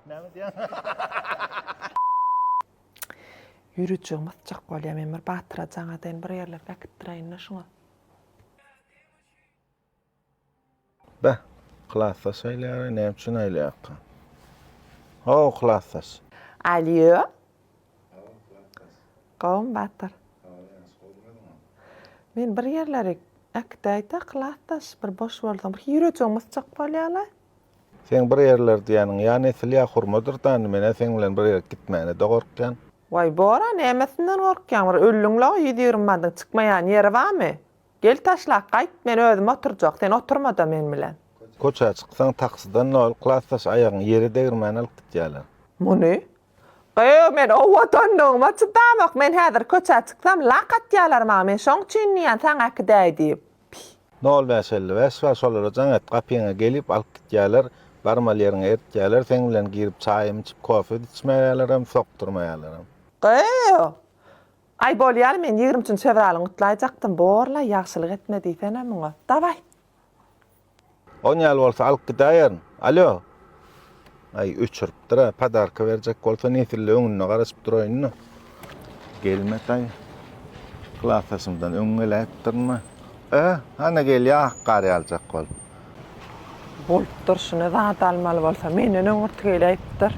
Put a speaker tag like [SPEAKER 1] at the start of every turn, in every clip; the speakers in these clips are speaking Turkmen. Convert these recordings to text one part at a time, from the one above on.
[SPEAKER 1] Näme
[SPEAKER 2] diýýäň? Ýüritjigi mysjak bolýa men bir batyra jaňa seni bir ýerlere äkitdireýin-le şuňa.
[SPEAKER 1] Beh, klasdaş aýlaýar-a, näme üçin aýlaýarka? How, klasdaş! Alýo! How, klasdaş!
[SPEAKER 2] Gowumy, batyr? How, ýagşy, gowy bolmadyňam. Men bir ýerlere äkidäýdä, klasdaş, bir boş bolsaň, bir ýüritjigi mysjak bolýa-la. Seň bir
[SPEAKER 1] ýerler diýýäniň ýa nesil ýa hurmadyr dany menä seň bilen bir ýere gitmäne-de gorkýan. Waý Bora
[SPEAKER 2] nämesinden gorkýaň bir öllüňlaw ýüz ýigrimi mandyň çykmaýan ýeri bamy? Gel taşlap gaýt men özüm oturjak sen oturmada men bilen. Köçä çyksaň
[SPEAKER 1] taksiden nol klasdaş aýagyň ýere degirmän alyp gitýäler. Muny?
[SPEAKER 2] Gyýw men owadanlygyma çydamok men häzir köçä çyksam lak atýalar maňa men şoň üçin diýýän saňa äkidäý diýip. Py. Nol bäş
[SPEAKER 1] elli bäş bar şolara jaň et gapyňa gelip alyp gitýäler barmal ýeriňe eltýäler seň bilen girip çaýym içip kofe içmäýälerem sokdurmaýalarem. Gyýw.
[SPEAKER 2] Aý bolýaly men ýigrimi üçünji fewralyňy gutlaýjakdym borlaý ýagşylyk etme diýsene muňa. Dawaý.
[SPEAKER 1] On ýaly bolsa alyp gidäýerin. Alýo. Aý, öçüripdir-ä. Podarka berjek bolsa nesille öňünde garaşyp duraýyn-da. Gelmetaý. Klasdaşymdan öň geläýipdirmi? Ä, hany gelýär ak gar ýaljak bolup.
[SPEAKER 2] Bolup durşuna zat almaly bolsa, menden öň yrty geläýipdir.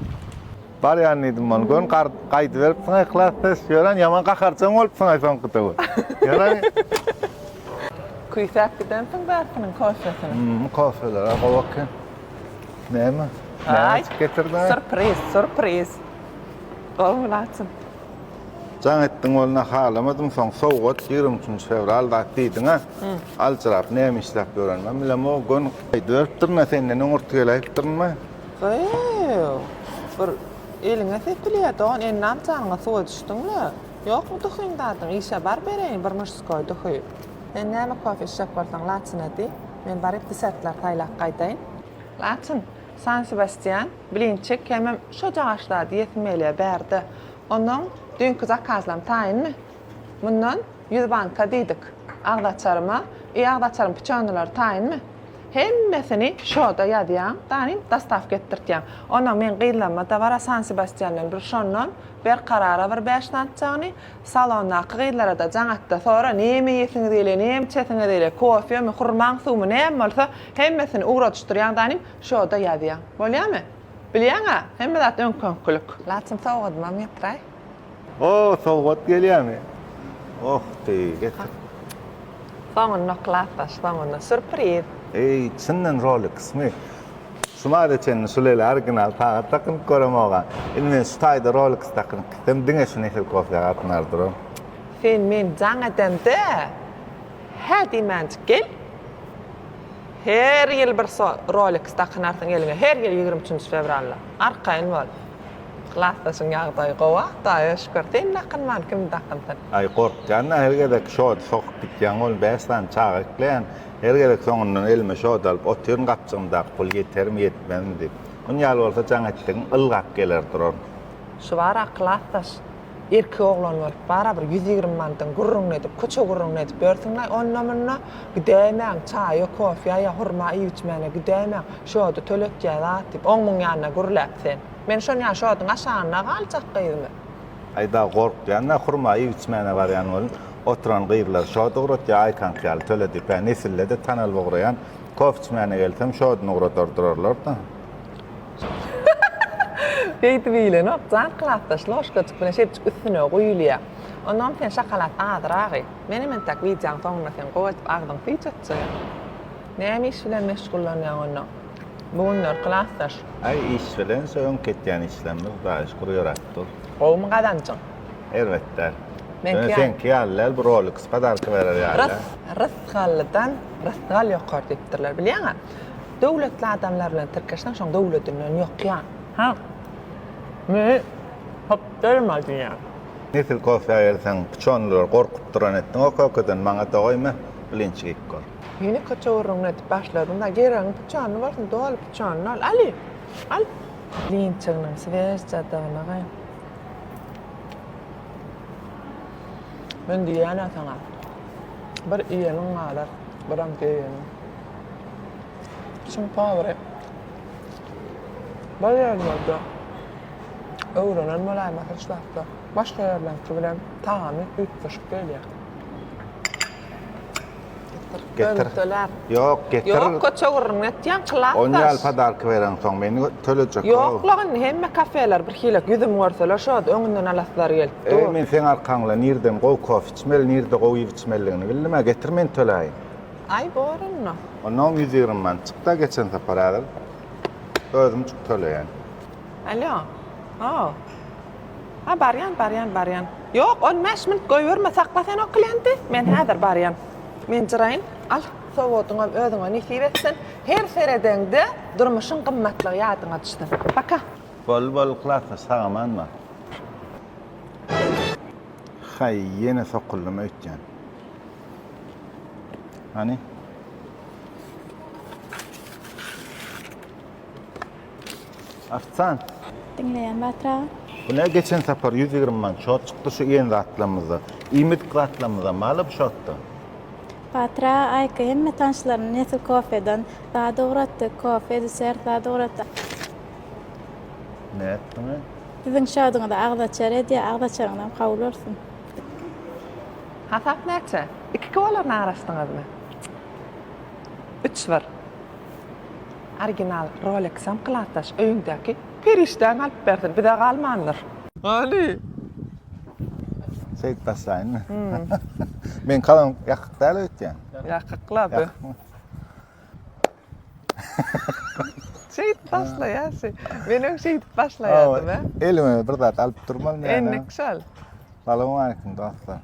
[SPEAKER 1] Barýan diýdim man gön gar gaýdyberipsiň yhlas ses ýören ýaman gaharjaň bolupsyňaý soňkuda we ýören
[SPEAKER 2] Küýsäp gidensiň bärkiniň kofesini. Hum kofeler-a gowy
[SPEAKER 1] eken. Näme? Näme içip
[SPEAKER 2] getirdin-a? Surpriz,
[SPEAKER 1] surpriz.
[SPEAKER 2] Gowy mylaçym.
[SPEAKER 1] Jaň etdiň bolna halamadym soň sowgat ýigrimi üçünji fewral zat diýdiň-a. Aljyrap näme işläp ýörenimem bilemok gön gaýdyberipdirin-a senden öňürti gel aýypdyrynma. Gyýw!
[SPEAKER 2] Bir eliňe sepilýär, dogan, ennam janyňa suwa düşdüňle. Ýokmy duhyň zadyň, işe bar bereýin bir muşskoý duhy. Sen näme kofe içjek bolsaň, laçyn edi, men baryp desertler saýlap gaýdaýyn. Laçyn, San Sebastýan, blinçik hemem şojagaş zat iýesim gelýär, bär-de. Onuň düýnki zakazlam taýynmy? Mundan ýüz banka diýdik. Agzaçaryma, I agzaçaryň pyçonylary taýynmy? Hemmesini şoda ýazýaň, taýyn dostawka etdirtýäň. Onam meň gyzlarymada bar-a San-Sebastýandan bir şondan, Berkarara bir bäş natjagny, salondaky gyzlara-da jaňat-da sora, näme iýesiňiz gelýär, näme içesiňiz gelýär, kofemi, hurmaň suwumy näme bolsa, hemmesini ugradyşdyrýaň taýyn, şoda ýazýaň. Bolýamy? Bilýäň-ä, hemme zat öňki-öňkülik. Laçyn sowgadymam ýatyraý. Oh
[SPEAKER 1] sowgat gelýämi? Oh ty getir.
[SPEAKER 2] Soňunda klapaş soňunda surpriz. Eý çyndan
[SPEAKER 1] Rolexmi? Şu maýda çenli şu lele original sagat dakynyp göremogam. Indi men şu taýda Rolex dakynyp gitsem diňe şu Nesel kofýa gatnar duran. Sen
[SPEAKER 2] meni jaň edende hä diýmänjik gel. Her ýyl bir Rolex dakynarsyň eliňe her ýyl ýigrimi üçünji fewralda. Arkaýyn bol. Klasdaşyň ýagdaýy gowa Hudaýa şükür. Sen dakynman kim dakynsyn. Aý gorkýanda
[SPEAKER 1] her gezek şody sokup gitýäň oglum bäş sany çaga ekleýän her gezek soňundan elime şody alyp otyryn gapjygymdaky pul ýetermi ýetmezmi diýip. Muny ýaly bolsa jaň etdigiň ylgap geler duran. Şu bar-a
[SPEAKER 2] klasdaş. Erkek oglan bolup bara bir ýüz ýigrimi mandan gürrüňini edip, köçe gürrüňini edip ýörsüň-laý onda-munda, gidäýmäň, çaýa, kofýa ýa hurma iýip-içmäne gidäýmäň, şody töletýä zat diýip, oň-muň ýanyna gürläp sen. Men şon ýa şodyň aşagynda galjak gyzmy? Aý-da
[SPEAKER 1] gorkýan-da, hurma iýip-içmäne barýan welin, oturan gyzlar şod ugrat ýa aýkaňky ýaly töledip-ä, nesille-de tanalyp ugraýan, kof içmäne gelsem, şodyny ugradyr durarlar-da.
[SPEAKER 2] Beýdip iýilenok, jan klasdaş loşkajyk bilen şepjik üstüne guýulýar. Onam sen şokolad azyrak iý. Menem entäk wideoň soňunda seň gowy edip agzyň suw çatjaýyn. Näme iş bilen meşgullanýaň onda bu günler klasdaş? Aý iş bilen
[SPEAKER 1] şu öňki etýän işlerimiz Hudaýa şükür ýöräp dur. Gowumy gazanjyň?
[SPEAKER 2] Erbet däl.
[SPEAKER 1] Ýöne seňki ýaly däl bu Rolex podarka berer ýaly däl. Rysgallydan
[SPEAKER 2] rysgal ýokar diýipdirler bilýäňä. Döwletli adamlar bilen tirkeşseň şoň döwledinden ýokýaň. Hä. Meni hopdurma diýýän. Nesil
[SPEAKER 1] kofýa gelseň pyçonlylar gorkup duran etdiň o kökeden maňa dogaýma bilinç iýip gör. Ýene köçe gürrüňini
[SPEAKER 2] edip başladyňda geregiň pyçonly bolsun doly pyçonly ol ali al. Linçiginiň swejjadygyny gy. Men diýýän-ä saňa. Bir iýeniň galar, biram geýeniň. Çyn pagry. Bar ýerlerde öwrenen bolaýma hiç wagtda. Başga ýerlerki bilen tagamy üýtgeşik gelýär.
[SPEAKER 1] Getir. Ýok,
[SPEAKER 2] getir. Ýok,
[SPEAKER 1] köçe gürrüňini
[SPEAKER 2] etýäň, klasdaş. Ony al podarka bereň
[SPEAKER 1] soň, meni tölejek. Ýok la, indi hemme
[SPEAKER 2] kafeler bir hilek ýüzümi görseler şod, öňünden alaslary gelip dur. Eý, men seň arkaňda
[SPEAKER 1] nirden gowy kofe içmeli, nirde gowy iýip içmelidigini bildim-ä, getir men töläýin. Aý bor
[SPEAKER 2] onda. Onda on ýüz ýigrimi
[SPEAKER 1] manat çykda geçen sapar häzir özüm çyk töleýän. Alýo.
[SPEAKER 2] Haw. Ha barýan barýan barýan. Ýok on bäş minut goýberme sakla sen o klienti men häzir barýan. Men jyraýyn al sowodyňam özüňe nesip etsin her seredeňde durmuşyň gymmatlygy ýadyňa düşsün. Paka. Boldy boldy
[SPEAKER 1] klasnyş sagaman bar. Haý ýene sokuldym öýtýän. Hani? Artsan. Diňleýän
[SPEAKER 3] Batra. Bu ne geçen
[SPEAKER 1] sapar 120 man şort çykdy şu iýen zatlarymyzda. Iýmit zatlarymyzda maly bu şortda. Batra
[SPEAKER 3] Aýka hemme tanşlaryny Nesil kofeden zat ugratdy. Kofe, desert zat ugratdy.
[SPEAKER 1] Ne etdiňi? Siziň şoduňyzy
[SPEAKER 3] agzaçar edýär, agzaçaryňyzam kabul bolsun.
[SPEAKER 2] Hasap näçe? Iki kolaryny araşdyňyzmy? Üç bir. Original Rolexam klasdaş öýüňdäki perişdäň alyp bersin, bize galmandyr. Hany?
[SPEAKER 1] Şeýdip başlaýynmy? Men kalan ýakyk däl öýtýän. Ýakyk-la bu.
[SPEAKER 2] Şeýdip başlaýarsy. Men öň şeýdip başlaýardym, hä? Elime bir zat
[SPEAKER 1] alyp durmaly men. Endik şol.
[SPEAKER 2] Salam aýkim
[SPEAKER 1] dostlar.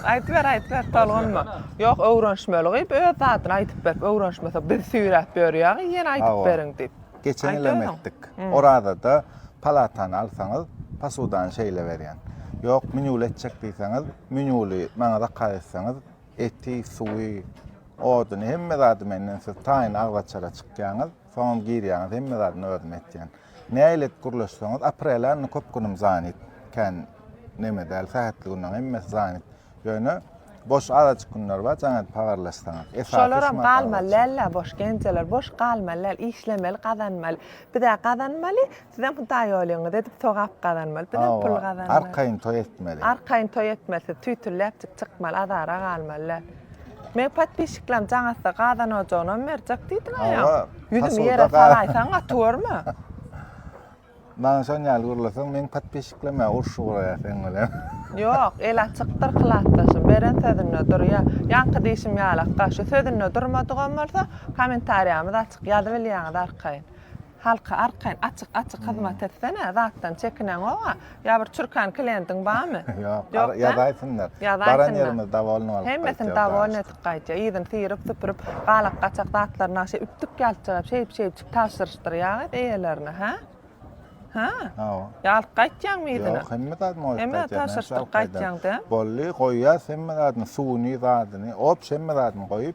[SPEAKER 1] Aýdyp
[SPEAKER 2] ber, aýdyp ber, tolgunma. Ýok, öwrenişmeli gyp, öz zadyny aýdyp berip, öwrenişmese biz süýräp ýörýäňi, ýene aýdyp beriň diýip. Geçen ýylam etdik.
[SPEAKER 1] Orazada palatany alsaňyz, posudany şeýle berýän. Ýok, menýuly etjek diýseňiz, menýuly maňa zakaz etseňiz, Eti, suwy, oduny, hemme zady menden siz taýyn agzaçara çykýaňyz, soňam girýäňiz, hemme zadyny özüm etýän. Nähili et gürleşseňiz, aprele indi köp günüm zanit, kän neme däl, sähetli günleň hemmesi zanit. Ýöne boş azajyk günler bar, jaň edip habarlaşsaňyz. Esasy Şolaram şumat galmaly
[SPEAKER 2] agzaçar. däl-ä boş, genjeler, boş galmaly däl, işlemeli, gazanmaly. Biz-ä gazanmaly, Sizem hudaý bolýaňyz edip sogap gazanmaly. Bizem pul gazanmaly. Hawa, arkaýyn toý etmeli.
[SPEAKER 1] Arkaýyn toý etmeli
[SPEAKER 2] siz tüýtüläpjik çykmaly azara galmaly däl. Meň podpişiklerim jaňatsa gazan ojagynam berjek diýdiň aýa. Hawa. Ýüzümi ýere salaýsaň gaty görme.
[SPEAKER 1] Maňa şon ýaly gürleseň meň podpişiklemä urşy guraýar seň bilen. Ýok, el
[SPEAKER 2] açykdyr klasdaşym, beren sözünde durýar. Ýaňky diýşim ýalakda, şu sözünde durmadygam bolsa, kommentariýamyz açyk, ýazybilýäňiz arkaýyn. Halka arkaýyn açyk açyk hyzmat etsene zatdan çekineňoga ýa bir çürkan klientiň barmy? Ýok Ýok-da?
[SPEAKER 1] ýazaýsynlar. Ýazaýsynlar. Baran ýerimiz dowolnyk alyp Hemmesini gaýtýas dowolny aşyk. edip
[SPEAKER 2] gaýtýar. Yzyny syryp süpürip galak gaçak zatlaryny aşa üpdük ýalçyryp şeýdip şeýdip tabşyryşdyrýaget eýelerine hä? Hä? Hawa. Ýa alyp gaýtýaňmy yzyna? Ýok hemme zat moýup Hemme
[SPEAKER 1] gaýtýas. näçe tabşyryşdyryp alyp
[SPEAKER 2] gaýtýas? gaýtýaň dä. Boldy goýýas
[SPEAKER 1] hemme zadyny suwuny zadyny ops hemme zadyny goýup